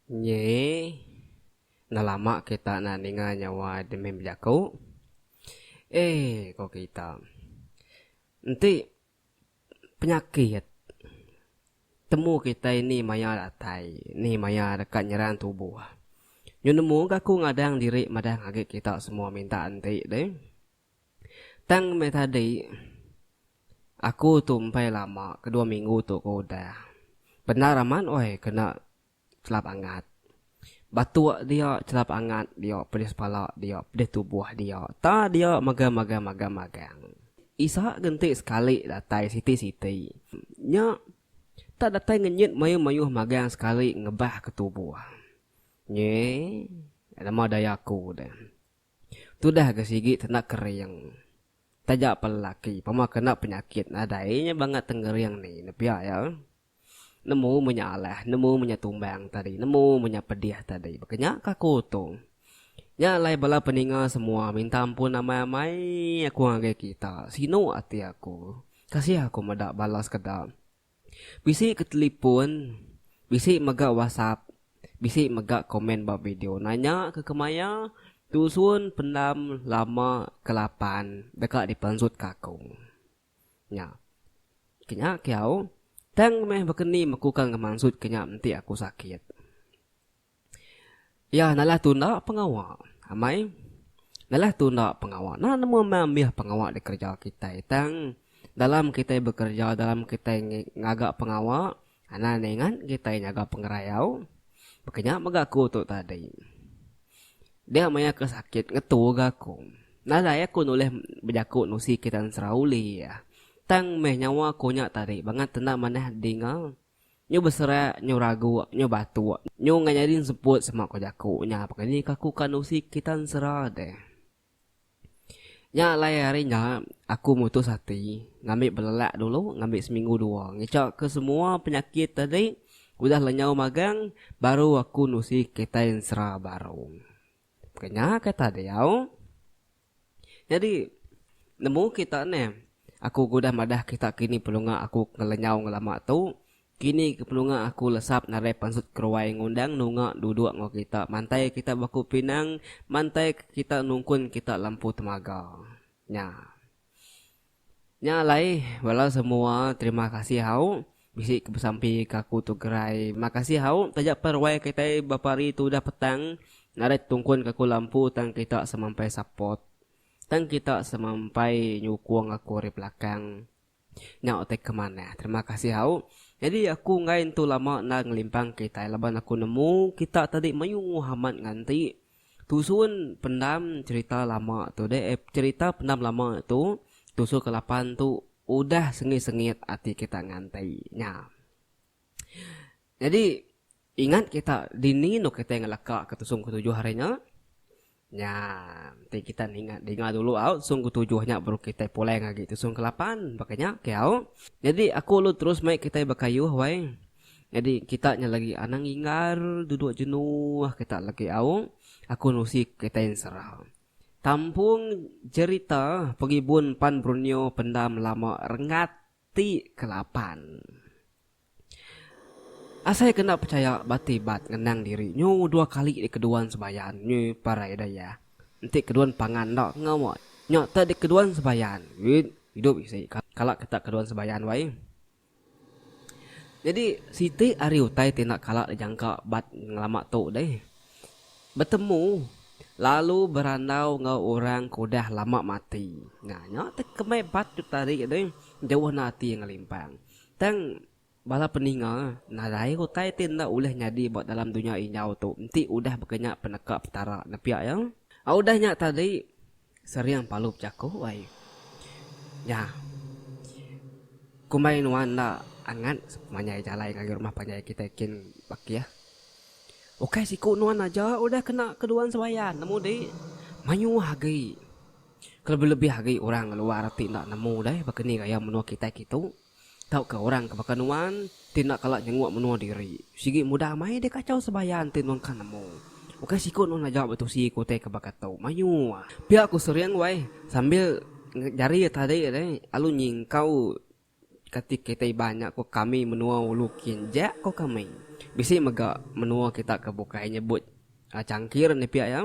Nyei enda lama kita enda ninga nyawa demi bejaku. Ee ko kita. Enti. penyakit. Temu kitai ni maya datai, ni maya deka nyerang tubuh. Nyu nemu ke aku ngadang diri madah agi kita semua minta enti deh. Tang meh tadi aku tu empai lama ke dua minggu tu ke udah. Bendar amat weh kena. Chelap angat. Batuk dia chelap angat dia pedis pala dia pedis tubuh dia ta dia magang magang magang magang. Isa ke enti sekali datai siti siti. Nya tak datai ngenyit mayuh mayuh magang sekali ngebah ke tubuh. Nyi nama daya aku deh. Tudah ke sigi tenda kering. Taja pa lelaki pama kena penyakit nadai nya bangat tengering ni ne pia ya. Nemu munya alah, nemu munya tumbang tadi, nemu munya pedih tadi. Baka nya ka aku Otong. Nya alai bala peninga semua minta ampun amai-amai aku ngagai kita. Sinu ati aku. Kasih aku meda bala sekeda. Bisi ke telipon, bisi mega whatsapp, bisi mega komen ba video nanya ke kemaya tusun pendam lama ke lapan deka dipansutka aku. Nya. Kenya kiau, tang meh bekeni mekuka ngemansutka nya enti aku sakit. Iya nalah tu enda pengawa. Amai. Nalah tu enda pengawa. Enda nemu meh ambih pengawa dikereja kitai. Tang, dalam kitai bekereja, dalam kitai ngaga pengawa, Anang ningat kitai nyaga pengerayau baka nya mega aku tu tadi. Dia maya ke sakit ngetu ga aku. Nadai aku nulih bejaku nusi kitan Serauli iya. Tang meh nyawa aku nya tadi bangat enda manah dinga. Nyu beserak, nyu raguk, nyu batuk, nyu enggau nyadi semput sema ko jaku nya pekeni ka aku ka nusi kitan sera deh. Nya alai hari nya aku mutus ati ngambi belelak dulu ngambi seminggu dua ngecha ke semua penyakit tadi udah lenyau magang baru aku nusi kitai ensera baru. Ke nya ke tadeo nyadi nemu kita neh aku ke udah madah kita kini pelunga aku ngelenyau ngelama tu Kini ke penunga aku lesap narai pansut keruai ngundang nunga duduk enggau kita mantai kita baku pinang mantai ke kita nungkun kita lampu temaga. Nya. Nya alai bala semua terima kasih hau bisi ke besampi ke aku tu gerai makasih hau taja pen ruai kitai bapa hari tu udah petang narai tungkun ke aku lampu tang kita semampai support tang kita semampai nyukung aku ari belakang. Nya utai ke manah. Terima kasih au. Nyadi aku enggai entu lama endar ngelimpang kitai laban aku nemu kita tadi mayuh nguh amat nganti tusun pendam cherita lama tu deh eh cherita pendam lama tu tusun ke lapan tu udah sengit-sengit ati kita nganti nya. Nyadi, ingat kita dini enda kitai ngelaka ke tusung ketujuh hari nya? Nya, enti kita ninga dinga dulu au tusung ketujuh nya baru kitai pulai ngagi tusung kelapan, baka nya ke au? Nyadi, aku ulu terus mai kitai bekayuh wai. Nyadi, kita nya lagi anang inggar duduk jenuh kita lagi au. Aku nusi ke kitai ensera. Tampung jerita pengibun pan Brunio pendam lama rengat. Ti kelapan. Asai ke enda pechaya bati bat ngenang diri nyu dua kali dikeduan sebayan nyu parai dayah. Enti keduan pangan enda enggau nya tak dikeduan sebayan wit idup isi kala ke tak keduan sebayan wai. Nyadi siti ari utai ti enda kala dijangka bat ngelama tu deh. Betemu, lalu berandau enggau orang ke udah lama mati. Nah, nya tu kemai bat tu tadi deh, jauh enda ati ngelimpang. Tang, bala peninga, nadai utai ti enda ulih nyadi ba dalam dunya injau tu enti udah baka nya peneka Petara, nepiak iya? Udah nya tadi, Sering palu bejaku ai. Nya. Kumbai nuan enda angat sepanjai jalai ngagai rumah panjai kitai kin Bakih. Ukai siku nuan aja udah kena keduan sembahyang nemu deh mayuh agi. Kelebih-lebih agi orang luar ti enda nemu deh baka ni gaya menua kitai kitu. Tauka orang ke baka nuan ti enda kala nyenguk menua diri. Sigi mudah mai deh kachau sebaya enti nuan ka nemu. Ukai siku nuan aja betusi ke utai ke baka tu. Mayuh. Pia ku Sering wai sambil jari iya tadi deh alu nyingkau kati kitai iban nya ku kami menua ulu kin ja ko kami. Bisi mega menua kita ke bukai nyebut changkir nih pia iya.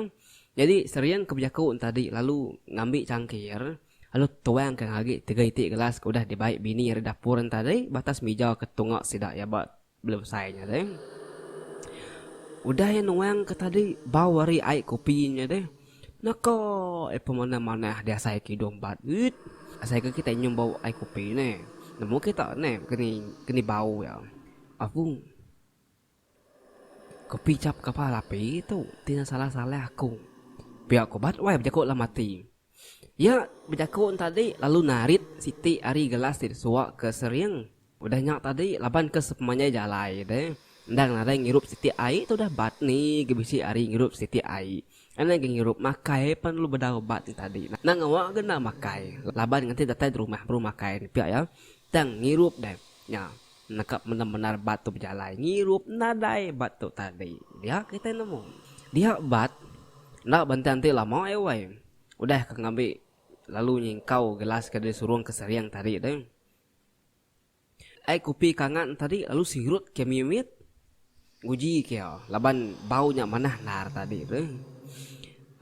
Nyadi Sering ke bejaku ntadi lalu ngambi changkir. lalu tuang ke ngagi tiga iti gelas ke udah dibai bini iya ri dapur enta tadi ba atas mija ke tunga sida iya ba belum besai nya tadi. Udah iya nuang ke tadi bau ari ai kopi nya tadi naka iya pemana manah diasai ke hidung bat uit asai ke kitai nyium bau ai kopi ne nemu kita ne keni keni bau iya. Aku. Ku pijap kapal api tu ti ngesalah-salah aku. Pia ku bat wai bejaku alam ati. Iya bejaku tadi lalu narit siti ari gelas ti disuwa ke sering. Udah nya tadi laban ke sepemanjai jalai de endang nadai ngirup siti ai tu udah bat ni ge bisi ari ngirup siti ai. Endang ke ngirup makai pan lalu bedau bat nya tadi. Endang ngawa ke enda makai laban ngenti datai derumah baru makai ne pia iya tang ngirup deh nya. Nekap mendar-mendar bat tu bejalai ngirup nadai bat tu tadi. Dia kitai nemu. Dia bat enda benti anti lama ai wai. Udah ka ngambi lalu nyingkau gelas ke disurung ke sering tadi tu. Ai kopi ke angat tadi lalu sirut ke mimit nguji ke iya laban bau nya manah endar tadi tu.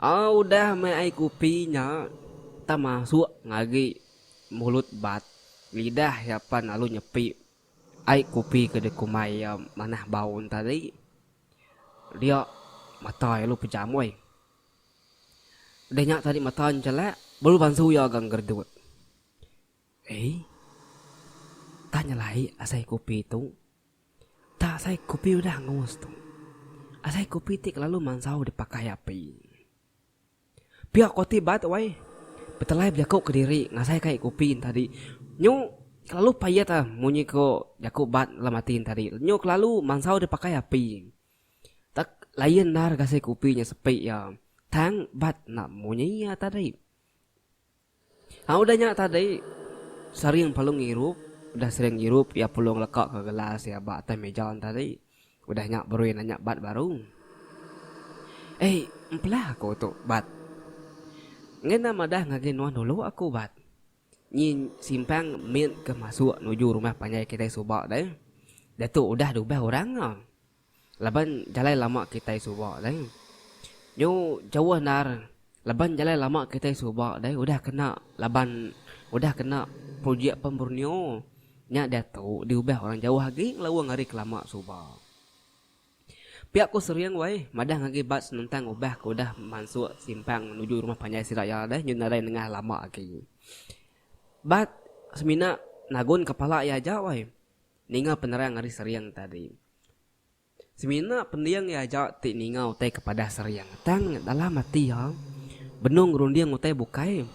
Au udah meh ai kopi nya tang masuk ngagi Mulut bat, lidah iya pan lalu nyepi ai kupi ke dikumbai iya manah bau entadi. Dia mata iya lalu pejam uih. Udah nya tadi mata njelak baru bansu iya ga ngeredut. Ei. Tang nyelai asai kupi tu. Tang asai kupi udah angus tu. Asai kupi ti kelalu mansau dipakai api. Pia ko ti bat wai. Betelai bejaku kediri ngasai kai kupi entadi. Nyu kelalu payat ah munyi ko jaku bat dalam ati entadi. Nyu kelalu mansau deh pakai api. Tak layan endar gasai kupi nya sepi ya. Tang bat enda munyi ya tadi. Tang udah nya tadi, Saring Palung ngirup. Udah Saring ngirup, iya Pulung lekaka gelas iya ba atas meja ne tadi. Udah nya Berui nanya Bat baru, Ei, empelah aku tu, Bat. Ngena madah ngagai nuan dulu aku, Bat. Nyi simpang mit ke masuk nuju rumah panjai kitai suba deh. Ditu udah dubah orang. laban jalai lama kitai suba deh. Nyu jauh endar laban jalai lama kitai suba deh udah kena laban udah kena projek Pam Borneo nya diatu diubah orang jauh agi ngelaung ari kelama suba. Pia ku Sering wai madah ngagai Bad senentang ubah ke udah mansuk simpang nuju rumah panjai sida iya deh nyu nadai nengah lama agi. Bad semina nagun kepala iya aja wai. ninga penerang ari Seriang tadi. Semina pending iya aja ti ninga utai ke padah Seriang, tang dalam ati iya benung ngerunding utai bukai.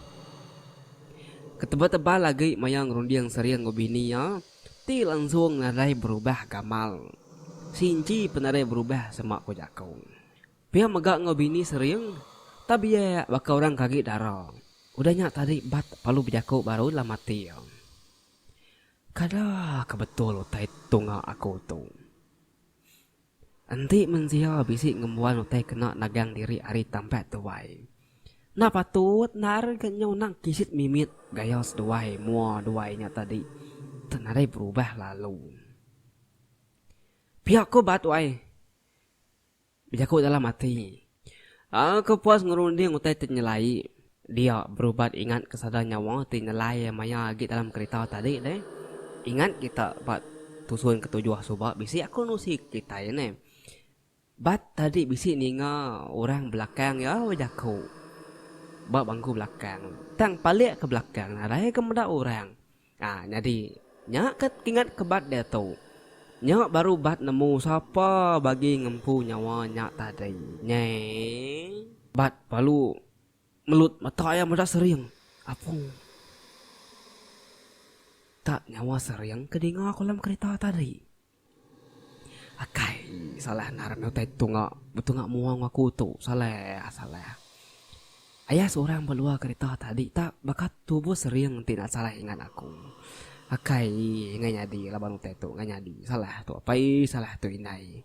Ketebal-tebal agi maya ngerunding Seriang enggau bini iya ti langsung nadai berubah gamal. Sinci pun nadai berubah sema ku jaku. Pia mega enggau bini Seriang, tabiak baka orang ke agi dara. Udah nya tadi Bat palu bejaku baru dalam ati iya. Kada ke betul utai tunga aku tu. Enti mensia bisi ngembuan utai kena nagang diri ari tampat tuai, enda patut nari ke nyau nang kisit mimit gaya seduai mua duai nya tadi tu nadai berubah lalu. Pia ku ba tuai. Bejaku dalam ati. Aku puas ngerunding utai ti nyelai. Dia berubat ingat ke sada nyawa ti nyelai maya agi dalam kerita tadi deh. Ingat kita ba tusun ketujuh suba bisi aku nusi ke kitai ne. Bat tadi bisi ninga orang belakang iya bejaku ba bangku belakang tang palik ke belakang nadai ke meda orang. A nyadi, nya ke ingat ke bat diatu. Nya baru bat nemu sapa bagi ngempu nyawa nya tadi. Nyeh. Bat palu melut mata iya meda sering. Apu. Tak nyawa sering ke dinga aku alam kerita tadi. Akai, salah nah rami utai tunga betunga mua enggau aku tu. Salah, salah. Aya seorang ba luar kerita tadi ta baka tubuh sering enti enda salah ingat aku. Akai, enggai nyadi laban utai tu enggai nyadi. Salah tu apai, salah tu indai.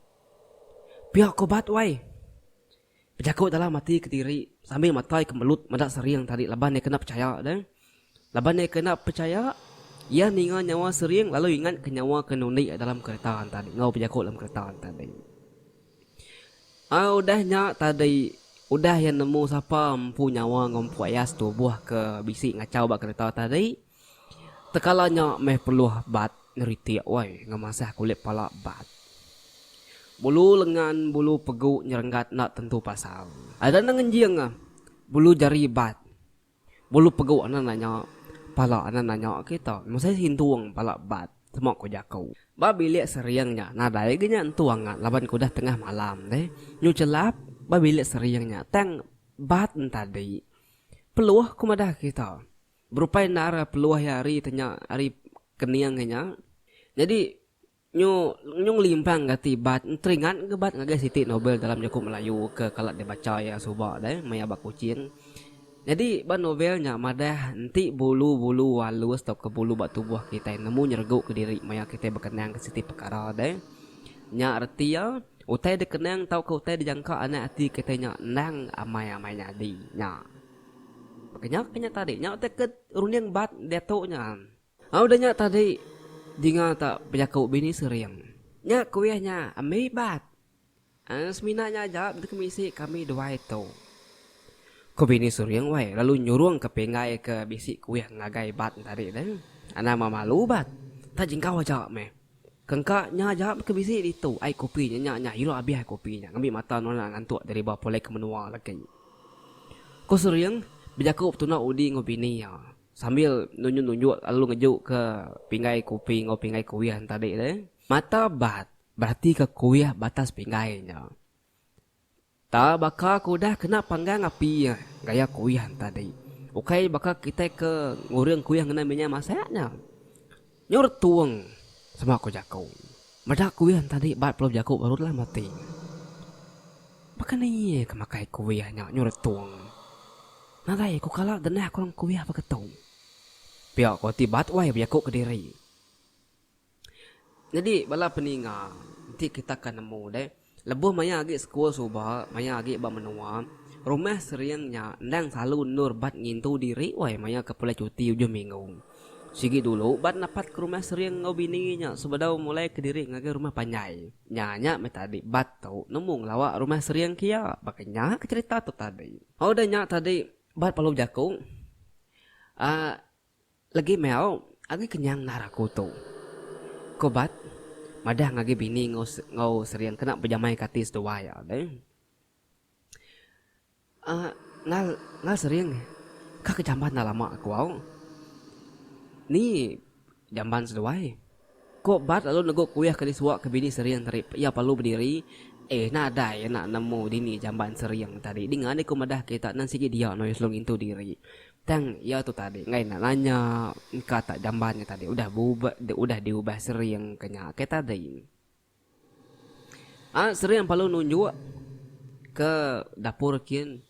Pia ke ubat uai. Bejaku dalam ati kediri sambil matai ke Melut meda Sering tadi laban iya kena pechaya deh. Laban iya kena pechaya, iya ninga nyawa Sering lalu ingat ke nyawa ke nundi dalam kereta tadi enggau bejaku dalam kereta tadi. Ai udah nya tadi, udah iya nemu sapa empu nyawa enggau empu aya setubuh ke bisi ngachau ba kereta tadi, Tekala nya meh peluh bat ngeritik wai ngemasah kulit pala bat. Bulu lengan bulu pegu nyerenggat enda tentu pasal. Ada enda ngenjing ah bulu jari bat. Bulu pegu anak nanya pala anak nanya kita mesai sintung pala bat sema ku jaku. Ba bilik sering nya nadai ga nya entu angat laban ke udah tengah malam deh. Nyu chelap ba bilik sering nya tang bat entadi peluh ku madah kita. Berupai endar peluh iya hari ti nya hari kening hari nya. Nyadi nyu nyu ngelimpang gati bat enteringat ga bat ngagai siti novel dalam jaku Melayu ke kala dibacha iya suba deh maya ba Kuching. Nyadi ba novel nya madah enti bulu-bulu alus tauka bulu ba tubuh kitai nemu nyeregu ke diri maya kitai bekenang ke siti pekara deh. Nya reti iya utai dikenang tauka utai dijangka anak ati kitai nya endang amai-amai nyadi nya. Baka nya, baka nya tadi. Nya utai ke runding bat diatu nya. Au udah nya tadi dinga ta bejaku bini sering. Nya kuih nya ambi bat. Aaa semina nya aja benda ke bisi kami duai tu. Ku bini sering wai lalu nyurung ke pinggai ke bisi kuih ngagai bat tadi deh. Anang memalu bat. Ta jingkau aja meh. Kengka nya jap ke bisi ditu ai kopi nya nya nya ira abih ai kopi nya ngambi mata nonak ngantuk diriba pulai ke menua lagi. Ku Suring bejaku betuna udi enggau bini iya sambil nunjuk nunjuk lalu ngeju ke pinggai kopi enggau pinggai kuih enti adi deh. Mata Bat beratika kuih batas pinggai nya. Ta baka ku udah kena panggang api iya gaya kuyan tadi. Ukai baka kitai ke nguring kuyan ngena minyak masak nya. Nyur tuong sama ku jaku. Meda kuyan tadi bat pelu bejaku baru telah mati. Baka ni iya ke makai kuyan nya nyur tuong. Nadai ku kala genah kurang kuyan baka tu. Pia ku ati bat wai bejaku kediri. Nyadi bala peninga enti kita ka nemu deh lebuh maya agi sekul suba maya agi ba menua rumah sering nya endang selalu endur bat ngintu diri wai maya ke pulai cuti ujung minggu. Sigi dulu bat napat ke rumah sering enggau bini nya sebedau mulai ke diri ngagai rumah panjai. Nya nya meh tadi bat tu nemu ngelawa rumah sering ke iya baka nya ke cherita tu tadi. Udah nya tadi bat perlu bejaku uhh. Legi meh au agi kenyang endar aku tu. Ko Bat madah ngagi bini enggau sering kena bejamaika ati seduai iya deh. Nal nal sering ka ke jamban enda lama ku au. Ni jamban seduai? Ko Bart lalu negu kuih ke disuak ke bini Sering tadi pe iya perlu bediri. Eh nadai iya enda nemu dini jamban Sering tadi dinga deh ko madah ke ita nan sigi dia noi selalu ngintu diri. Tang iya tu tadi enggai enda nanya engka tak jamban nya tadi udah beubah udah diubah Sering ke nya ke tadi. Anak seri yang palu nunjuk ke dapur kin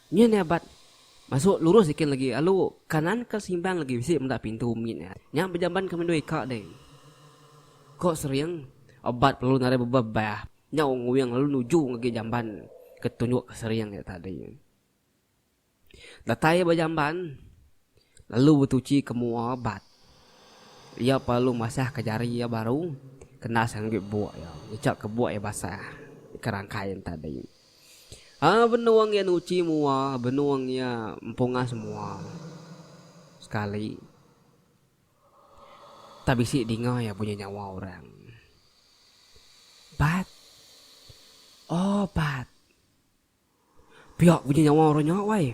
nyin nya bat masuk lurus sikin legi alu kanan ke simbang legi bisi meda pintu mit nya. Nya bejamban ke mendu ika deh. Ko Sering obat lalu nadai bebah bah nyau nguing lalu nuju ngagai jamban ke tunjuk ke Sering nya tadi. Datai ba jamban, lalu betuchi ke mua bat. Iya perlu masahka jari iya baru kena sanggup buk iya, ngechaka buk iya basah deka rangkai nya tadi. Aa benung iya nuchi mua, benung iya empungas mua sekali. Tang bisi dinga iya bunyi nyawa orang. Bat! Aw bat! Pia bunyi nyawa orang nya wai.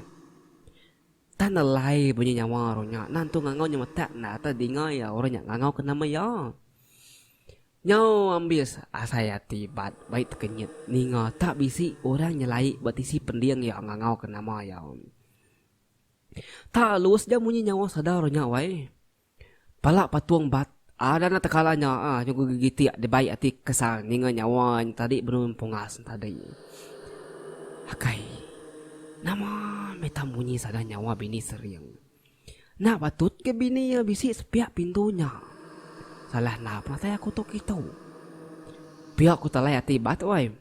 Tan alai bunyi nyawa orang nya. Nan tu ngangau nya metak enda atai dinga iya orang nya ngangau ke nama iya. Nyau ambis asai ati bat baik tekenyit ninga tak bisi orang nyelai ba tisi pending iya ngangau ke nama iya. Tak lus ja bunyi nyawa sada orang nya wai. Pala patung bat ada nya tekala nya ah nyugu gegitik di bai ati kesang ninga nyawa nya tadi benun pungas nya tadi. Akai. Nama meh tang munyi sada nyawa bini sering. Enda patut ke bini iya bisi sepiak pintu nya. Salah enda penatai aku tu kitu. Pia ku talai ati bat wai.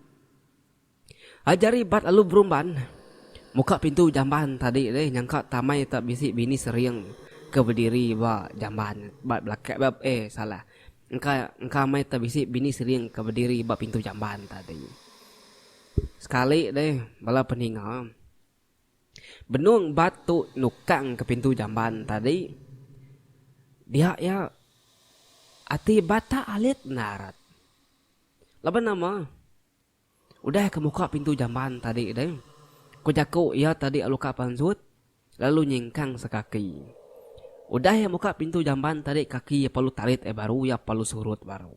Ajar Ibat lalu berumban muka pintu jamban tadi deh nyangka tamai tak bisi bini sering ke bediri ba jamban ba belaka ba eh salah engka engka mai tak bisi bini sering ke bediri ba pintu jamban tadi. Sekali deh bala peninga benung Bat tu nukang ke pintu jamban tadi dia iya ati Bat tak alit enda rat laban nama Udah ke muka pintu jamban tadi deh, ku jaku iya tadi lalu ka pansut lalu nyingkang sekaki. Udah iya muka pintu jamban tadi kaki iya perlu tarit ai baru iya perlu surut baru.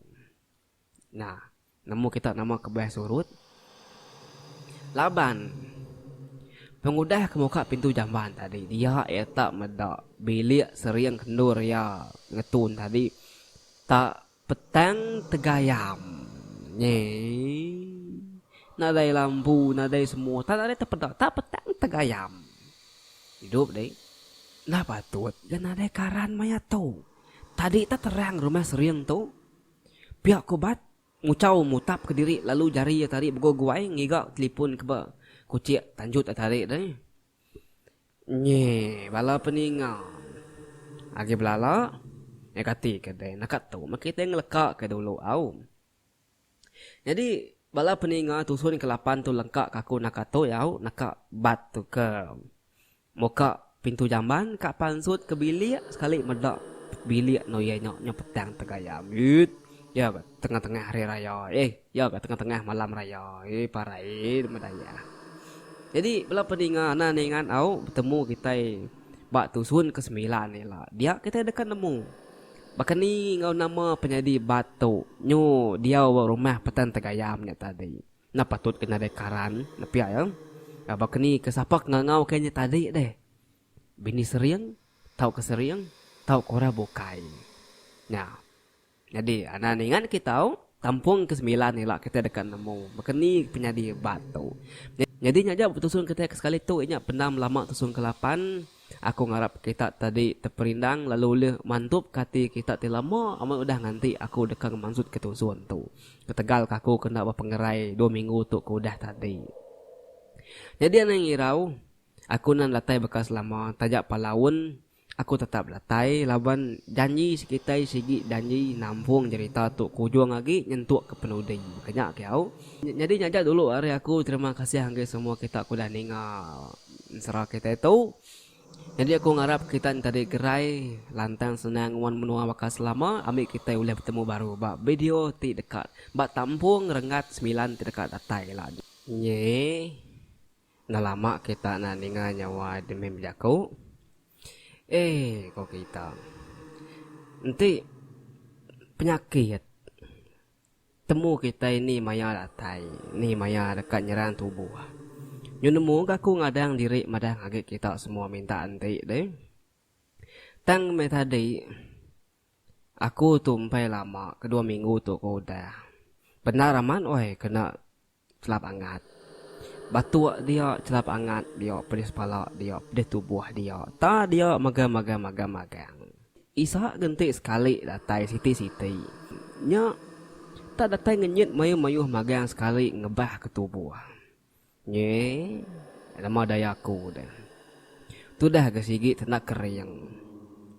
Nah, nemu kita nama kebuah surut? Laban pengudah ke muka pintu jamban tadi dia iya tak meda bilik sering kendur iya ngetun tadi tak Petang tegayam nyi nadai lampu nadai semua tak nadai tepeda tak petang tegayam idup deh enda patut ga nadai karan maya tu tadi tak terang rumah sering tu pia ku bat nguchau mutap ke diri lalu jari iya tadi begoi-goi ngiga telipon ke ba kuchek tanjut iya tadi deh. Nyi bala peninga agi belala meh kati ke deh naka tu meh kitai ngeleka ke dulu au. Nyadi bala peninga tusun ke lapan tu lengka ke aku naka tu au naka bat tu ke muka pintu jamban ka pansut ke bilik sekali meda bilik eno iya nya petang tegayam. Iyit iya tengah tengah hari raya eh. Iya ga tengah-tengah malam raya eh parai eh nama daya. Jadi bala peninga enda ningat au betemu kitai ba tusun ke semilan ila dia kitai deka nemu baka ni enggau nama penyadi bat tu nyu diau ba rumah Petan Tegayam nya tadi. Enda patut ke nadai karan nepi iya. Baka ni ke sapa ke ngangau ke nya tadi deh. Bini sering tauka sering tauka orang bukai. Nya. Nyadi, anak ningat kitou, kampung ke sembilan ila kitai deka nemu, baka ni penyadi bat tu. Nyadi nya aja betusung kitai ke sekali tu inya pendam belama tusung ke lapan. Aku ngarap kita tadi teperindang lalu ulih mantupka ati kita ti lama amat udah nganti aku deka ngemansutka tusung tu. Ketegal ke aku kena bepengerai dua minggu tu ke udah tadi. Nyadi anang irau, aku nan datai baka selama taja pala un. Aku tetap belatai laban janji sekitai sigi janji nampung jerita tu ke ujung agi nyentuk ke penudi ke nya ke au. Nyadi nya aja dulu ari aku terima kasih enggai semua kita ke udah ninga ensera kitai tu. Nyadi aku ngarap kita entadi gerai lantang senang nguan menua baka selama ambi kitai ulih betemu baru ba video ti deka ba tampung renggat semilan ti deka datai ila nya. Enda lama kita enda ninga nyawa Edmin bejaku. Ee, ko kita. Enti penyakit temu kitai ni maya datai, ni maya deka nyerang tubuh. Nyu nemu ga aku ngadang diri madah agi kita semua minta enti deh. Tang meh tadi aku tu empai lama ke dua minggu tu ko udah. Bendar amat weh kena. Chelap angat. Batuk dia chelap angat dia pedis pala dia pedis tubuh dia ta dia mega magang magang magang. Isak genti sekali datai siti siti nya ta datai ngenyit mayuh mayuh magang sekali ngebah ke tubuh. Nyi nama daya aku deh. Tudah ga sigi tenda kering.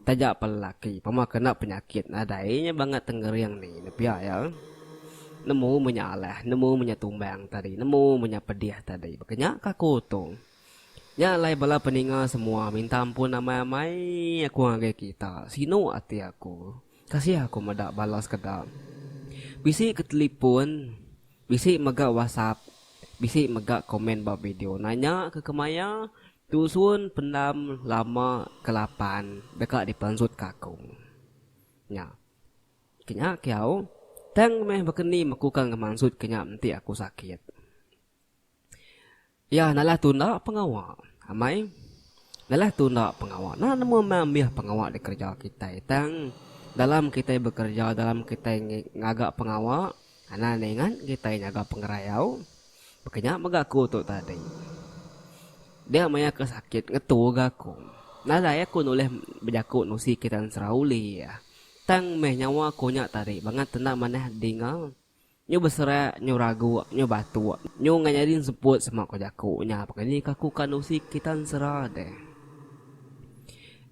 Taja pa lelaki pama kena penyakit nadai nya bangat tengering ni enda pia iya. Nemu meh nya alah, nemu meh nya tumbang tadi, nemu meh nya pedih tadi. Baka nya ka aku tu. Nya alai bala peninga semua minta ampun amai-amai aku ngagai kita. Sinu ati aku. Kasih aku meda bala sekeda. Bisi ke telipun, bisi mega whatsapp, bisi mega komen ba video nanya ke kemaya tusun pendam lama ke lapan deka dipansutka aku. Nya. Kenya kiau, tang meh baka ni mekuka ngemansut ke nya enti aku sakit. Iya nalah tu enda pengawa. Amai. Nalah tu enda pengawa. Enda nemu amai ambih pengawa dikereja kitai. Tang, dalam kitai bekereja, dalam kitai ngaga pengawa, anang ningat kitai nyaga pengerayau. Baka nya mega aku tu tadi. Dia maya ke sakit ngetu ga aku. Nadai aku nulih bejaku nusi kitan serau ulih. Tang meh nyawa aku nya tadi bangat enda manah dinga. Nyu beserak, nyu raguk, nyu batuk, nyu enggau nyadi enseput sema ko jaku nya pekara ni kaku ka endusi kita ensera deh.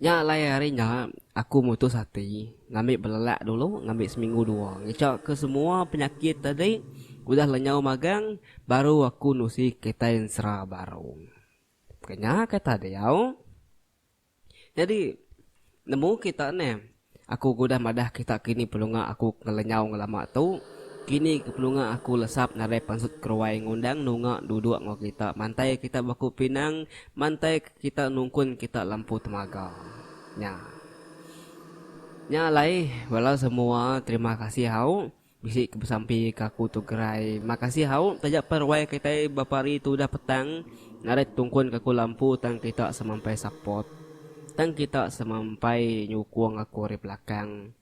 Nya alai hari nya aku mutus ati ngambi belelak dulu ngambi seminggu dua ngecha ke semua penyakit tadi udah lenyau magang baru aku endusi kitai ensera baru. Pekara nya kata diau. Nyadi, nemu kita ne? Aku ke udah madah kita kini pelunga aku ke ngelenyau ngelama tu. Kini ke pelunga aku lesap nadai pansut keruai ngundang nunga duduk enggau kita mantai kita beku pinang mantai ke kita nungkun kita lempu temaga. Nya. Nya alai, bala semua terima kasih hau. Bisi ke besampi ke aku tu gerai. Makasih hau taja per wai kitai bapa hari tu udah petang narit tungkun ke aku lampu tang kita semampai support. Tang kita semampai nyukung aku ari belakang.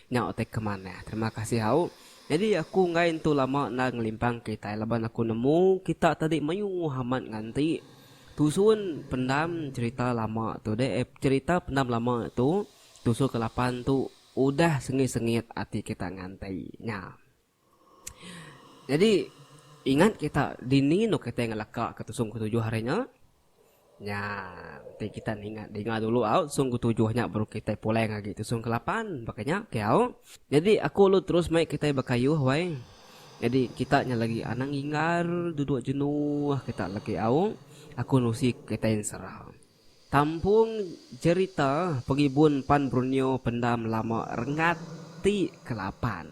Nya utai ke manah. Terima kasih hau. Nyadi aku enggai entu lama endar ngelimpang kitai laban aku nemu kita tadi mayuh amat nganti tusun pendam cherita lama tu deh eh cherita pendam lama tu tusun ke lapan tu. Udah sengit-sengit ati kita nganti nya. Jadi, ingat kita dini enda kitai ngelaka ke tusung ketujuh hari nya. Nya, enti kita ninga dinga dulu au tusung ketujuh nya baru kitai pulai ngagai tusung kelapan. Baka nya ke au. Jadi, aku lalu terus mai kitai bekayuh wai. Jadi, kita nya lagi anang inggar duduk jenuh kita lagi au. Aku nusi kitai ensera. Kampung jerita pengibun pan Brunio pendam lama rengat ti kelapan.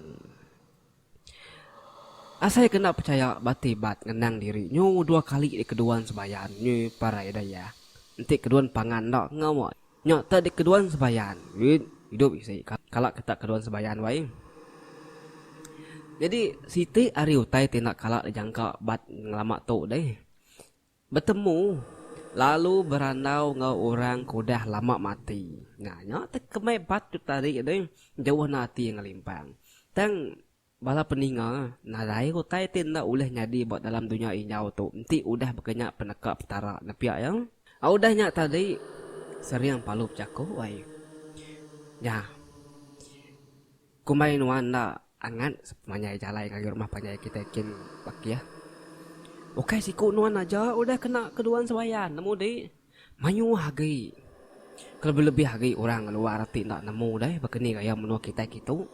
Asai ke enda pechaya bati bat ngenang diri nyu dua kali dikeduan sebayan nyu parai daya enti keduan pangan enda enggau nya tak dikeduan sebayan wit idup isi kala ke tak keduan sebayan wai jadi siti ari utai ti enda kala dijangka bat ngelama tu deh. Betemu, lalu berandau enggau orang ke udah lama mati. Nah, nya tu kemai bat tu tadi deh, jauh enda ati ngelimpang. Tang, bala peninga, nadai utai ti enda ulih nyadi ba dalam dunya injau tu enti udah baka nya peneka Petara, nepia iya? Au udah nya tadi, sering Palu bejaku, ai. Nya. Kumbai nuan enda angat sepanjai jalai ngagai rumah panjai kitai kin bakih. Ukai siku nuan aja udah kena keduan sembayan nemu di. Mayuh agi. Kelebih-lebih agi orang ngeluar ti enda nemu deh baka ni gaya menua kitai kitu.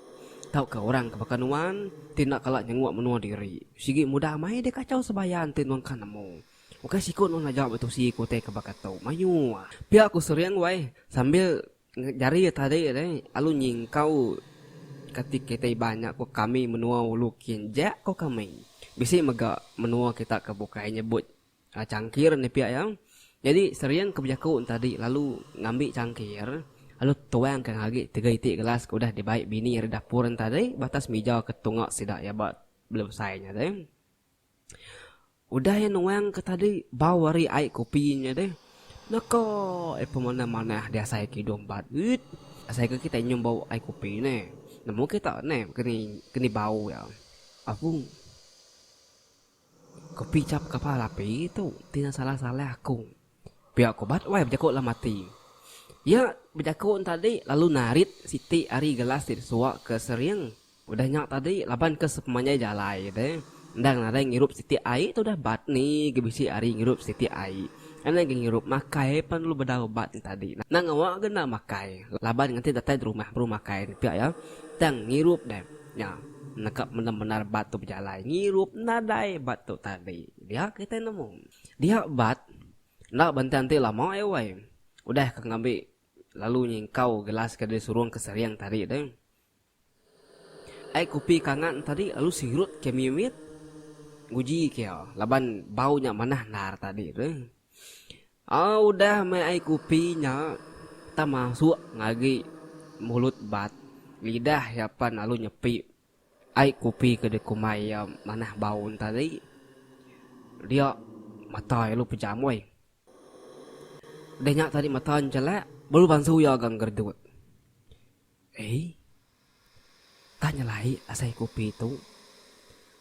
Tauka orang ke baka nuan ti enda kala nyenguk menua diri. Sigi mudah mai deh kachau sembayan ti nuan ka nemu. Ukai siku nuan aja betusi ku utai ke baka tu. Mayuh. Pia ku Sering wai sambil Jari iya tadi alai alu nyingkau kati kitai iban nya ko kami menua ulu kin ja ko kami bisi mega menua kita ke bukai nyebut changkir nih pia iya jadi sering ke bejaku tadi lalu ngambi changkir lalu tuang ke agi tiga iti gelas ke udah dibai bini ari dapur tadi batas mija ke tunga sida iya ba belebesai nya deh. Udah iya nuang ke tadi bau ari ai kopi nya deh. Naka iya pemandai manah diasai ke idung bat uit. Asai ke kitai nyium bau ai kopi ne. Nemu kita ne keni bau iya. Aku Kopi chap kapal api tu ti salah salah aku. Pia ku Bat Wai bejaku dalam ati. Iya bejaku entadi lalu narit siti ari gelas ti disuwa ke sering. Udah nya tadi laban ke sepemanjai jalai te endang nadai ngirup siti ai tudah Bat ni ga bisi ari ngirup siti ai. Endang ga ngirup makai pan lalu bedau Bat entadi nang ngawa ga enda makai laban nganti datai derumah baru makai enti pia iya tang ngirup deh. Nya nangkap mendem bendar Bat tu bejalai ngirup nadai Bat tu tadi dia kitai nemu. Dia bat, enda bantai enti lama ai uai. Udah ka ngambi lalu nyingkau gelas ke disurung ke sering tadi tu. Ai kupi ke angat tadi lalu sirut ke mimit nguji ke iya laban bau nya manah endar tadi tu. Au udah meh ai kupi nya tah masuk agi mulut bat, lidah iya pan lalu nyepi. Ai kopi ke dikumbai iya manah bau entari. Dia mata iya lu pejam woi. Udah nya tadi mata njelak baru bansu iya ga ngeredut. Ei. Tah nyelai asai kopi tu.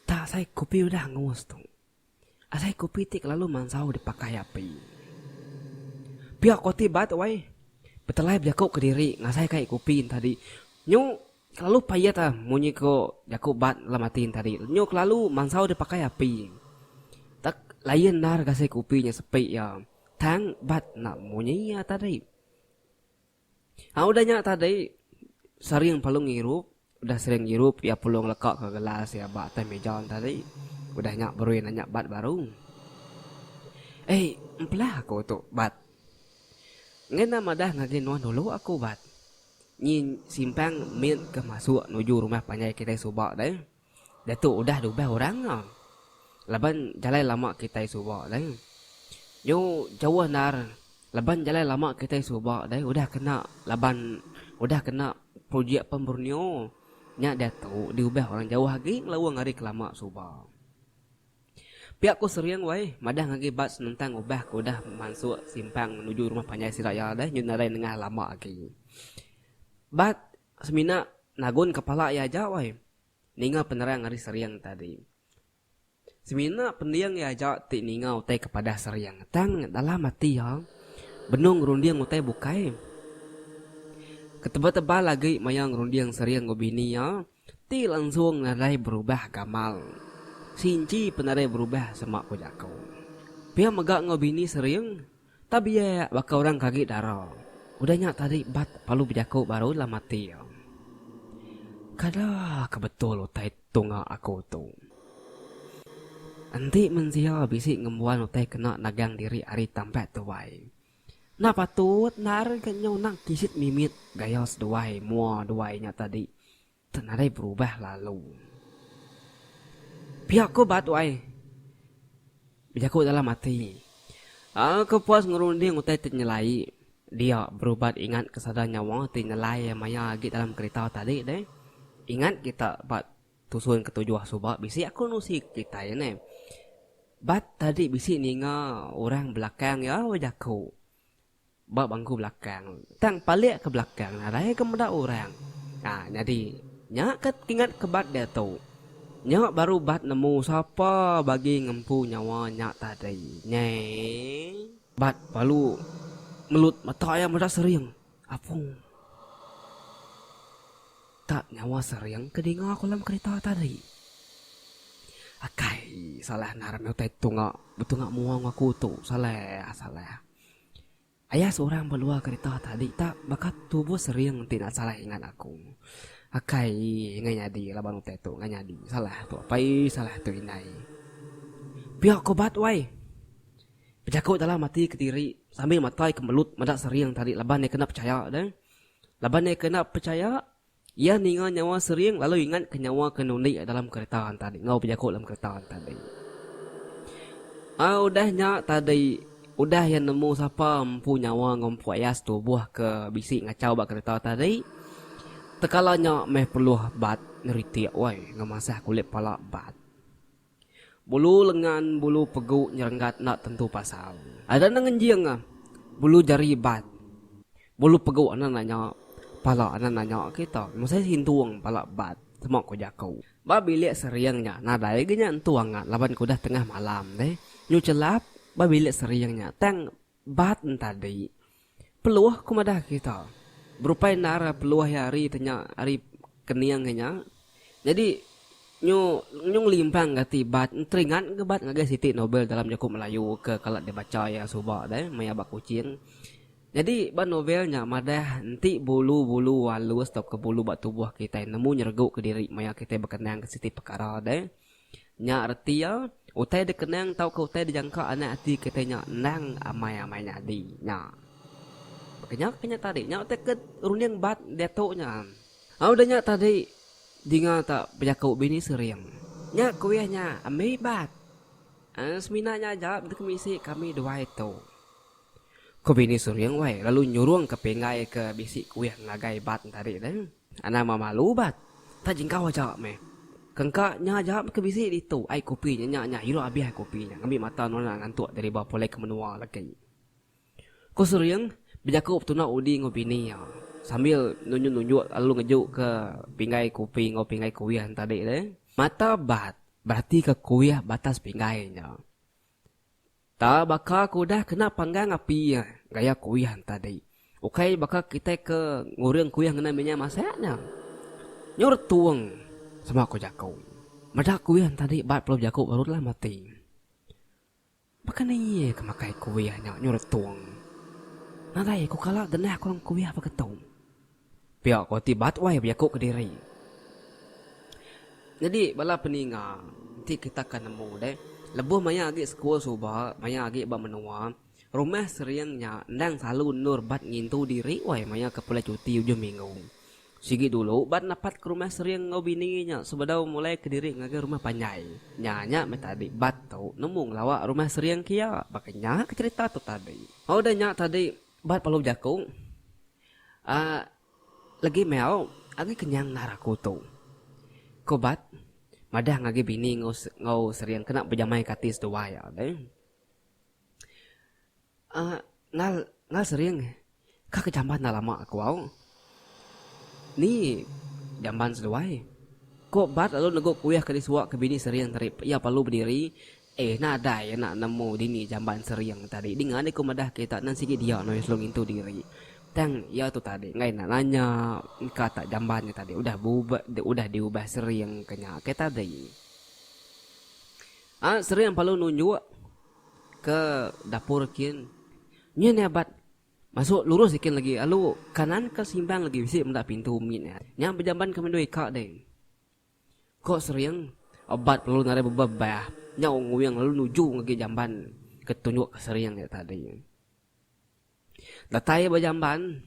Tah asai kopi udah angus tu. Alai kopi ti kelalu mansau dipakai api. Pia ko ti bat wai. Betelai bejaku kediri ngasai kai kopi entadi nyu kelalu payat ah munyi ko jaku bat dalam ati entadi nyu kelalu mansau dipakai api. Tak layan endar gasil kopi nya sepi ya tang bat enda munyi ya tadi. Aaa udah nya tadi Saring Palung ngirup, udah Saring ngirup iya Palung lekaka gelas iya ba atas mija tadi. Udah nya baru iya nanya Bat baru. Ei, empelah aku tu, Bat. Ngena madah ngagai nuan dulu aku, Bat. Nyi simpang mit ke masuk nuju rumah panjai kitai suba deh. Diatu udah diubah orang nya. Laban jalai lama kitai suba deh. Nyu jauh endar laban jalai lama kitai suba deh udah kena laban udah kena projek pen Borneo nya diatu diubah orang jauh agi ngelaung ari kelama suba. Pia ku Sering wai madah ngagi Bad senentang ubah ke udah mansuk simpang nuju rumah panjai sida iya deh nyu nadai nengah lama agi. Bad Semina nagun kepala iya aja wai ninga penerang ari Seriang tadi. Semina pending iya aja ti ninga utai ke padah Seriang tang dalam ati iya benung ngerunding utai bukai. Ketebal-tebal agi maya ngerunding Seriang enggau bini iya ti langsung nadai berubah gamal. Sinci pun nadai berubah sema ku jaku. Pia mega enggau bini Seriang. Tabiek baka orang ke agi dara. Udah nya tadi bat palu bejaku baru ila mati. Kada ke betul utai tunga aku tu. Enti mensia bisi ngembuan utai kena nagang diri ari tampat tuai. Enda patut enda ari ke nyau nang kisit mimit gaya seduai mua duai nya tadi Tang nadai berubah lalu. Pia ko ba tuai. Bejaku dalam ati. Aku puas ngerunding utai ti nyelai. Dia berubat ingat ke sada nyawa ti nyelai maya agi dalam kerita tadi deh. Ingat kita ba tusun ke tujuh suba bisi aku nusi kitai neh. Ba tadi bisi ninga orang belakang iya bejaku. Ba bangku belakang tang palik ke belakang nadai ke meda orang. Ha nyadi nya ke kingat ke bat diatu. Nya baru bat nemu sapa bagi ngempu nyawa nya tadi. Nyeh. Bat balu melut mata iya meda sering. Apung. Tak nyawa sering ke dinga ku alam kerita tadi. Akai salah nara meh utai tunga betunga mua ngaku tu. Salah salah. Aya seorang ba luar kerita tadi ta baka tubuh sering ti enda salah ingat aku. Akai enggai nyadi laban utai tu enggai nyadi. Salah tu apai salah tu indai. Pia ko bat wai. Bejaku dalam ati kediri sambil matai ke melut meda sering tadi laban iya kena pechaya deh. Laban iya kena pechaya Iya ninga nyawa Sering lalu ingat ke nyawa ke nundi iya dalam kereta tadi enggau bejaku dalam kereta tadi. Ai udah nya tadi udah iya nemu sapa empu nyawa enggau empu aya setubuh ke bisi ngachau ba kereta tadi. Tekala nya meh perlu bat ngeritik woi ngemasah kulit pala bat. Bulu lengan bulu pegu nyerenggat enda tentu pasal. Ada enda ngenjing ah. Bulu jari bat. Bulu pegu enda nanya. Pala enda nanya kita. Mesti sintung pala bat sema ku jaku. Ba bilik sering nya nadai ga nya entu angat laban ke udah tengah malam deh. Nyu chelap ba bilik sering nya tang. Bat entadi, Peluh ku madah kita, berupai endar peluh iya ari te nya ari kening inya. Nyadi nyu nyu ngelimpang gati Bat enteringat ga Bat ngagai siti novel dalam jaku Melayu ke kala dibacha iya suba deh maya ba Kuching. Nyadi ba novel nya madah enti bulu-bulu alus tauka bulu ba tubuh kitai nemu nyeregu kediri maya kitai bekenang ke siti pekara deh. Nya reti iya, utai dikenang tauka utai dijangka anak ati kitai nya endang amai-amai nyadi. Nya. Baka nya ke nya tadi. Nya utai ke runding bat diatu nya. Au udah nya tadi dinga ta bejaku bini sering. Nya kuih nya ambi bat. Ai semina nya aja deka misi kami duai tu. Ku bini sering wai lalu nyurungka pinggai ke bisi kuih ngagai bat tadi tu. Anang meh malu ubat. Tah jingkau aja meh. Kengka nya aja ke bisi ditu ai kopi nya nya nya ilu abih ai kopi nya ngambi mata nona ngantuk diriba pulai ke menua legi. Ku Suring bejaku betuna udi enggau bini iya sambil nunjuk nunjuk lalu ngeju ke pinggai kopi enggau pinggai kuih entadi deh. Mata Bat beratika kuih batas pinggai nya. Ta baka ke udah kena panggang api gaya kuyan tadi. Ukai baka kitai ke ngurung kuyan ngena minyak masak nya. Nyu retung sama ku jaku. Meda kuyan tadi bat pelu jaku baru telah mati. Baka ni iya ke makai kuyan nya nyu retung. Nadai ku kala genah kurang kuyan baka tu. Pia ko ti ba tuai bejaku kediri. Nyadi bala peninga enti kita ka nemu deh lebuh maya agi sekul suba maya agi ba menua rumah sering nya endang selalu endur bat ngintu diri wai maya ke pulai cuti ujung minggu. Sigi dulu bat napat ke rumah sering enggau bini nya sebedau mulai kediri ngagai rumah panjai. Nya nya meh tadi bat tu nemu ngelawa rumah sering kia baka nya ke cherita tu tadi. Udah nya tadi bat perlu bejaku. Aa legi meh au agi kenyang endar aku tu. Ku Bat madah ngagi bini enggau Sering kena bejamaika ati seduai alai. Aa nal nal Sering ka ke jamban enda lama ku au. Ni jamban seduai? Ku Bat lalu negu kuih ke disuaka bini Sering tadi pia perlu bediri Eh nadai ya nak nemu dini jamban sering tadi dinga deh ku madah kita nan sigi dia noi selalu ngintu diri tang ya tu tadi enggai nak nanya engka tak jamban nya tadi udah bubah udah diubah sering ke nya ke tadi a sering perlu nunjuk ke dapur kin nyu nya bat masuk lurus ikin lagi alu kanan ke simbang lagi bisi meda pintu mit nya nya bejamban ke mendu ika deh Ko Sering, Obat perlu nadai bebebah. Nya Unguing lalu nuju ngagi jamban ke tunjuk ke Sering nya tadi. Datai iya ba jamban,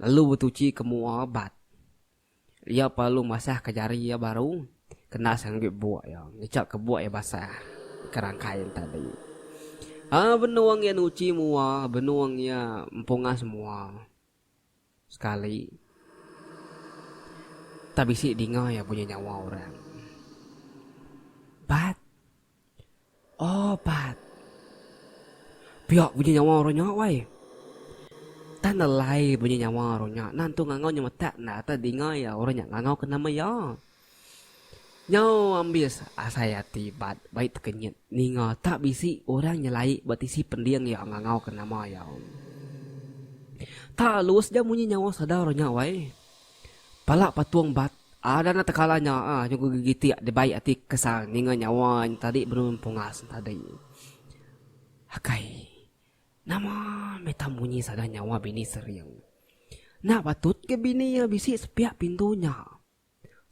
lalu betuchi ke mua Obat. Iya pa lalu masah ke jari iya baru kena sengagi buk iya. Ngecha ke buk iya basah ke rangkai nya tadi. Haa benung iya nuchi mua, benung iya empungas mua. Sekali, tak bisi dinga iya bunyi nyawa orang. Bat! Oh, Bat! Pia bunyi nyawa orang nya, wai. Tan alai bunyi nyawa orang nya. Nan tu ngangau nyemetak enda tau dinga iya orang nya ngangau ke nama iya. Nyau ambis asai ati Bat bai tekenyit ninga tak bisi orang nyelai ba tisi pending iya ngangauka nama iya. Tak lus ja munyi nyawa Sadar nya wai. Pala patung Bat ada enda tekala nya nyugu gegitik dibai ati kesal ninga nyawa nya tadi benung pungas tadi. Akai. Nama meh tak munyi sada nyawa bini sering. Enda patut ke bini iya bisi sepiak pintu nya.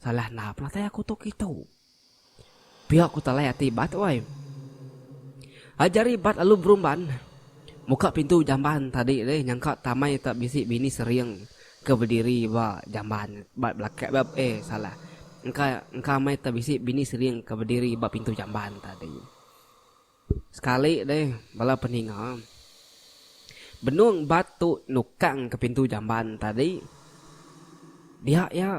Salah enda penatai aku tu kitu. Pia ku talai ati Bat wai. Ajar i Bat lalu berumban muka pintu jamban tadi deh nyangka tamai tak bisi bini sering ke bediri ba jamban ba belaka ba eh salah engka engka mai tak bisi bini sering ke bediri ba pintu jamban tadi. Sekali deh bala peninga. Benung bat tu nukang ke pintu jamban tadi. Dia iya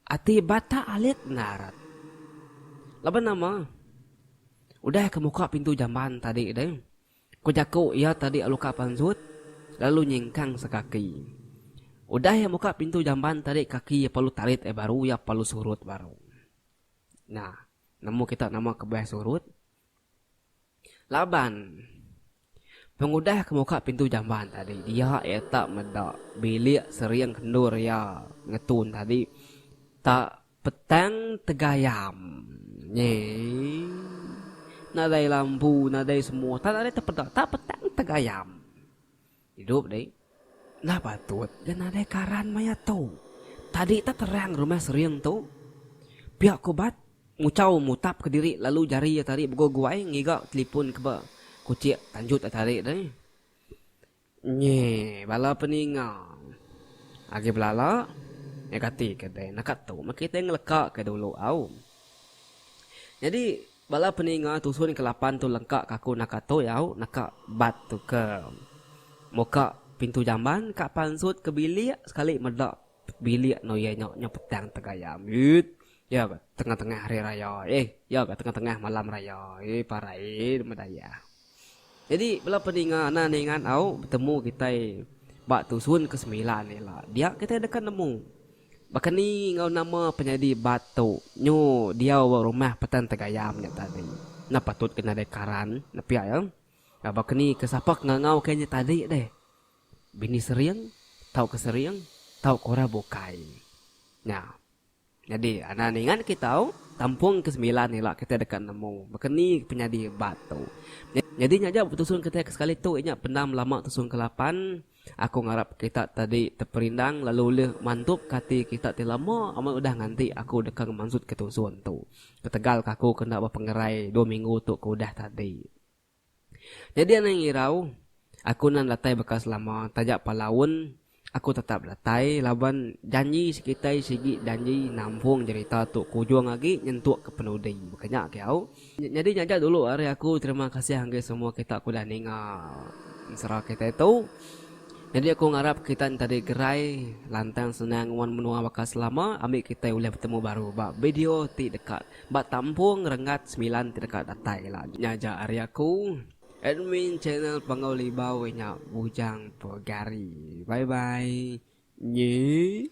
ati bat tak alit endar rat. Laban nama? Udah ke muka pintu jamban tadi deh, ku jaku iya tadi lalu ka pansut lalu nyingkang sekaki. Udah iya muka pintu jamban tadi kaki iya perlu tarit ai baru iya perlu surut baru. Nah. Nemu kita nama kebuah surut? Laban pengudah ke muka pintu jamban tadi dia eta meda bilik sering kendur iya ngetun tadi ta petang tegayam nyi nadai lampu nadai semua ta nadai tepeda ta petang tegayam. Idup deh. Enda patut ga nadai karan maya tu. Tadi tah terang rumah Sering tu. Pia ku Bat muchau mutap ke diri lalu jari iya tadi beguai-guai ngiga telipun ke ba kuchik tanjut iya tadi deh. Nyi bala peninga agi belala ngagai ati ke deh naka tu meh kitai ngeleka ke dulu au. Nyadi. Bala peninga tusun ke lapan tu lengka ka aku naka tuyau naka bat tu ke muka pintu jamban ka pansut ke bilik sekali meda bilik eno iya nya nyau petang tegaya mit iya ga tengah tengah hari raya eh iya ga tengah tengah malam raya eh parai meda iya. Nyadi bala peninga nan ingat au betemu kitai ba tusun ke semilan ila dia kitai deka nemu baka ni enggau nama penyadi bat tu nyu diau ba rumah Petan Tegayam nya tadi. Enda patut ke nadai karan nepia iya. Baka ni ke sapa ke ngangau ke nya tadi deh bini sering tauka sering tauka orang bukai. Nya. Nyadi anak ningat kitau tampung ke sembilan ila kitai deka nemu baka ni penyadi bat tu. Nyadi nya aja betusung kitai ke sekali tu inya pendam belama tusung ke lapan. Aku ngarap kita tadi teperindang lalu ulih mantupka ati kita ti lama amat udah nganti aku deka ngemansutka tusung tu. Ketegal ka aku ke enda bepengerai dua minggu tu ke udah tadi. Nyadi anang irau, aku nan datai baka selama taja palaun aku tetap datai laban janji sekitai sigi janji nampung jerita tu kujung agi nyentuk ke penudi baka nya ke au. Nyadi nya aja dulu ari aku terima kasih enggai semua kita ke udah ninga ensera kitai tu. Nyadi aku ngarap kita entadi gerai lantang senang nuan menua baka selama ambi kitai ulih betemu baru ba video ti deka Ba tampung renggat semilan ti deka datai ila nya aja ari aku, admin channel Panggau Libau inya bujang pegari. Bye bye nyi.